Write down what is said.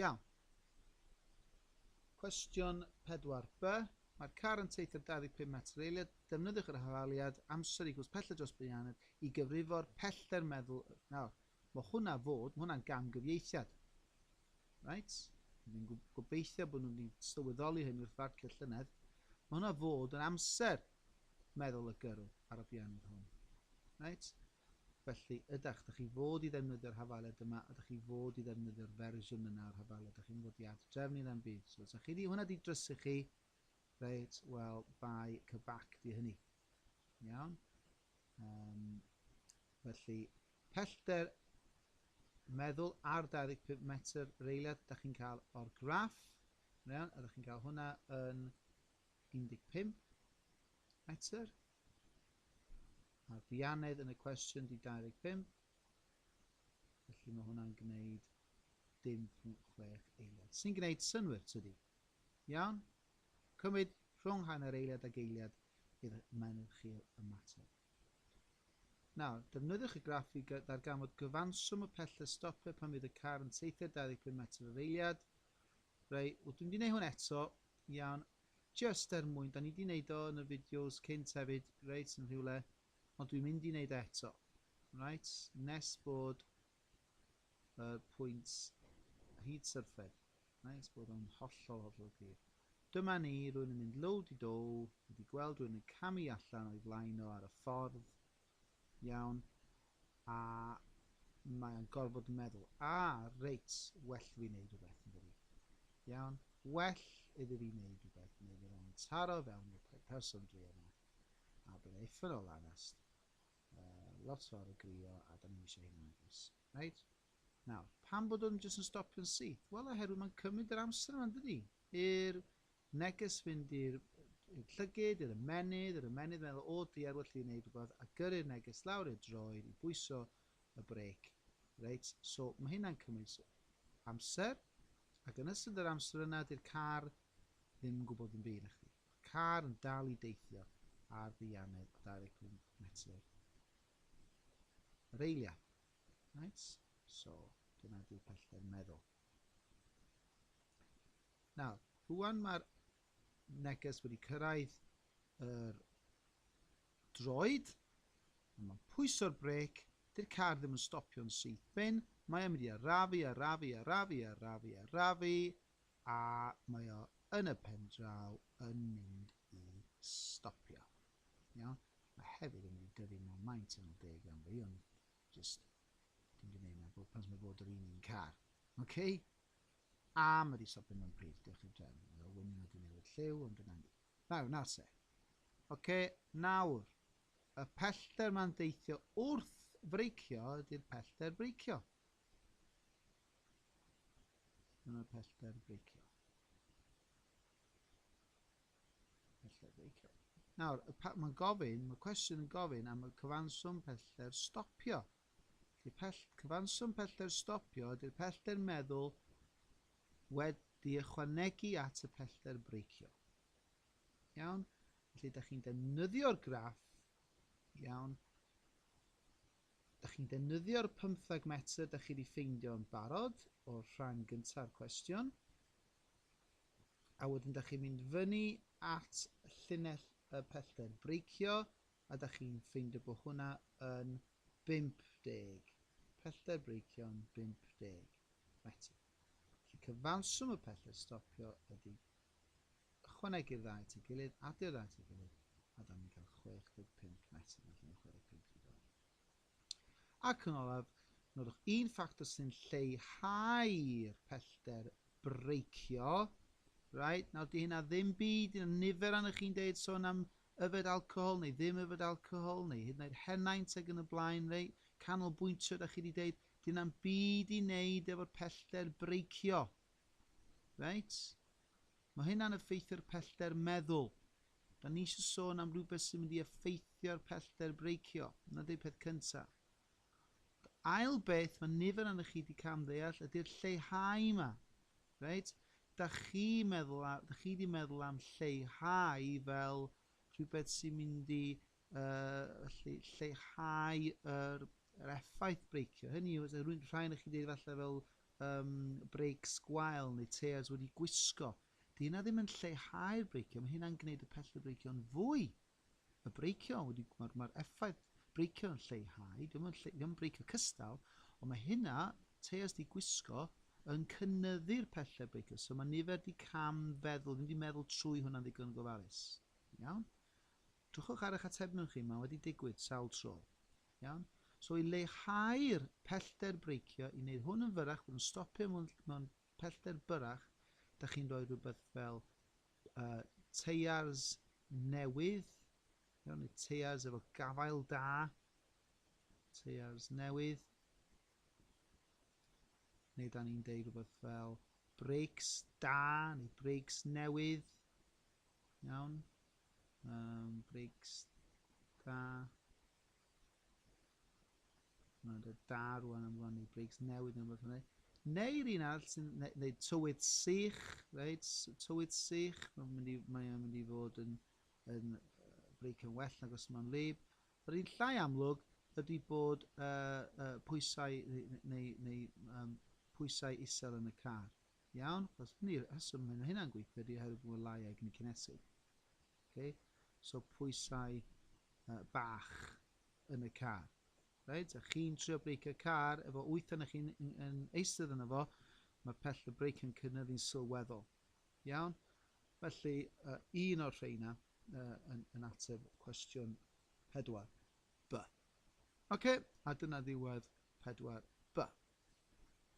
Iawn. Cwestiwn 4b. Mae'r car yn teithio 25 metr eiliad. Defnyddiwch yr hafaliad amser i gwrs pellter dros Brianed i gyfrifo'r pellter meddwl. Nawr, mae hwnna fod, mae hwnna'n gamgyfieithiad. Right? Dwi'n gobeithio bod nhw'n sylweddoli hyn wrth farcio llynedd. Mae hwnna fod yn amser meddwl y gyrw ar y Brianed hwn. Right? Felly, ydach, ydych chi fod i ddefnyddio'r hafaled yma, ydych chi fod i ddefnyddio'r fersiwn yna o'r hafaled, ydych chi'n fod i ad-drefnu na 'm byd. So, os ydych chi di hwnna di drysu chi, reit, wel, bai cybac di hynny. Iawn? Um, felly, pellter meddwl ar 25 metr reiliad ydych chi'n cael o'r graff. Iawn? Ydych chi'n cael hwnna yn 15 metr. Mae'r bianedd yn y cwestiwn di 25, felly mae hwnna'n gwneud 0.6 eiliad. Sy'n gwneud synwyr, tydi? Iawn? Cymryd rhwng hanner eiliad ag eiliad i'r menydd chi ymateb. Nawr, defnyddiwch y graff i ddarganfod gyfanswm y pellter stopio pan fydd y car yn teithio 25 metr yr eiliad, Rei, w dwi'n mynd i neud hwn eto, iawn, jyst er mwyn, da ni di neud o yn y fideos cynt hefyd, reit, yn rhywle, ond dwi'n mynd i neud e eto, reit, nes bod yr pwynt hyd syrffed, reit, bod o'n hollol hollol glir. Dyma ni, rwy'n yn mynd low di dow, wedi gweld rwy'n yn camu allan o'i flaen o ar y ffordd, Iawn. A mae o'n gorfod meddwl. Ah, reit, well fi wneud rhywbeth, yn dydi? Iawn. Well iddi fi wneud rhywbeth, neu fydd o'n taro fewn i'r pe- person dwi yma. A bydd e effyn o lanast. Uh, lot fawr o grio, a da ni'n eisiau hyn agos. Reit? Nawr, pam bod o'n jyst yn stopio'n syth? Wel, oherwydd mae'n cymryd yr amser yma, yn dydi? I'r Neges fynd i'r i'r llygid, i'r ymennydd, yr ymennydd meddwl o diar well fi neud rwbath a gyrru'r neges lawr i'r droed i bwyso y brêc. Reit, so ma' hynna'n cymryd amser ac yn ystod yr amser yna di'r car ddim yn gwybod dim byd nachdi. Ma'r car yn dal i deithio ar ddeianedd o 25 metr yr eilia. Reit, so dyna di'r pellter meddwl. Nawr, rwan mae'r neges wedi cyrraedd yr droed, a mae'n pwyso'r brêc, dy'r car ddim yn stopio'n syth bin, mae o'n mynd i arafu, arafu, arafu, arafu, arafu, a mae o yn y pen draw yn mynd i stopio. Iawn? Mae hefyd yn mynd i dyfu mor maint yn deg am fi, ond just dim di wneud na bod pan mae bod yr un un car. Okay? Am y diso pum yn pryd, diolch i'r drefn, mae o wyn wedi newid lliw ond dyna ni. Nawr, nawr se. Oce, nawr, y pellter ma'n deithio wrth freicio ydy'r pellter breicio. Dyna'r pellter breicio. Pellter breicio. Nawr, mae'n gofyn, mae cwestiwn yn gofyn am y cyfanswm pellter stopio. Ydy'r pell... cyfanswm pellter stopio, ydy'r pellter meddwl wedi ychwanegu at y pellter breicio. Iawn? Felly, da chi'n defnyddio'r graff, iawn, da chi'n defnyddio'r pymthag metr da chi wedi ffeindio yn barod o'r rhan gyntaf cwestiwn, a wedyn da chi'n mynd fyny at llinell y pellter breicio, Ydych chi'n ffeindio bod hwnna yn 50? Pellter breicion'n 50. Na ti. Felly cyfanswm y pellter stopio ydy ychwanegu'r ddau at ei gilydd, adio'r ddau at ei gilydd, a dan ni'n cael 65 metr, felly mae'n 65 i ddod. Ac yn olaf, nodwch un ffactor sy'n lleihau'r pellter breicio. Right, nawr di hynna ddim byd, dyna nifer annych chi'n deud sôn am yfed alcohol neu ddim yfed alcohol neu hyd yn oed henaint ag yn y blaen, rei, canolbwyntio da chi wedi deud, dyna'n byd i wneud efo'r pellter breicio. Right? Mae hynna'n effeithio'r pellter meddwl. Dan ni eisiau sôn am rhywbeth sy'n mynd i effeithio'r pellter breicio, na di peth cynta. Yr ail beth mae nifer anoch chi wedi cam ddeall ydy'r lleihau yma. Right? Da chi meddwl, da chi wedi meddwl am lleihau fel rhywbeth sy'n mynd i uh, lle, lleihau yr, yr effaith breicio. Hynny yw, rhywun rhai o'ch chi wedi falle fel um, breics gwael neu tears wedi gwisgo. 'Di 'na ddim yn lleihau'r breicio, mae hynna'n gwneud y pellter breicio'n fwy. Y breicio, wedi, mae'r ma effaith breicio yn lleihau, dim yn, lle, yn breicio cystal, ond mae hynna, teas di gwisgo, yn cynnyddu'r pellter breicio. So mae nifer di cam feddwl, ddim di meddwl trwy hwnna'n ddigon yn gofalus. Iawn? Dwchwch ar eich atebion chi, mae wedi digwydd sawl tro. Iawn? So i leihau'r pellter breicio, i wneud hwn yn fyrach, bod yn stopio mewn, mewn pellter byrrach, dach chi'n rhoi rhywbeth fel uh, teiars newydd, iawn, neu teiars efo gafael da, teiars newydd, neu da ni'n deud rhywbeth fel breaks da neu breaks newydd, iawn, um, breaks da, Mae dy dad rwan yn rannu brigs newydd neu rhywbeth hynny. Neu'r un arall sy'n... Neu, neu tywydd sych, reit? Tywydd sych, mae'n mynd i, mae mynd i fod yn, yn breic yn well nag os mae'n lib. Yr un llai amlwg ydy bod uh, uh, pwysau neu, neu, neu um, pwysau isel yn y car. Iawn? Chos hynny, rheswm hyn o hynna'n gweithio ydy oherwydd bod y lai egni cinesig. Ok, so pwysau uh, bach yn y car. Right? A chi'n trio breicio car efo wyth yna chi'n yn eistedd yna fo, mae pell y breic yn cynyddu'n sylweddol. Iawn? Felly, uh, un o'r rheina uh, yn, yn ateb cwestiwn 4 B. Ok, a dyna ddiwedd 4 B.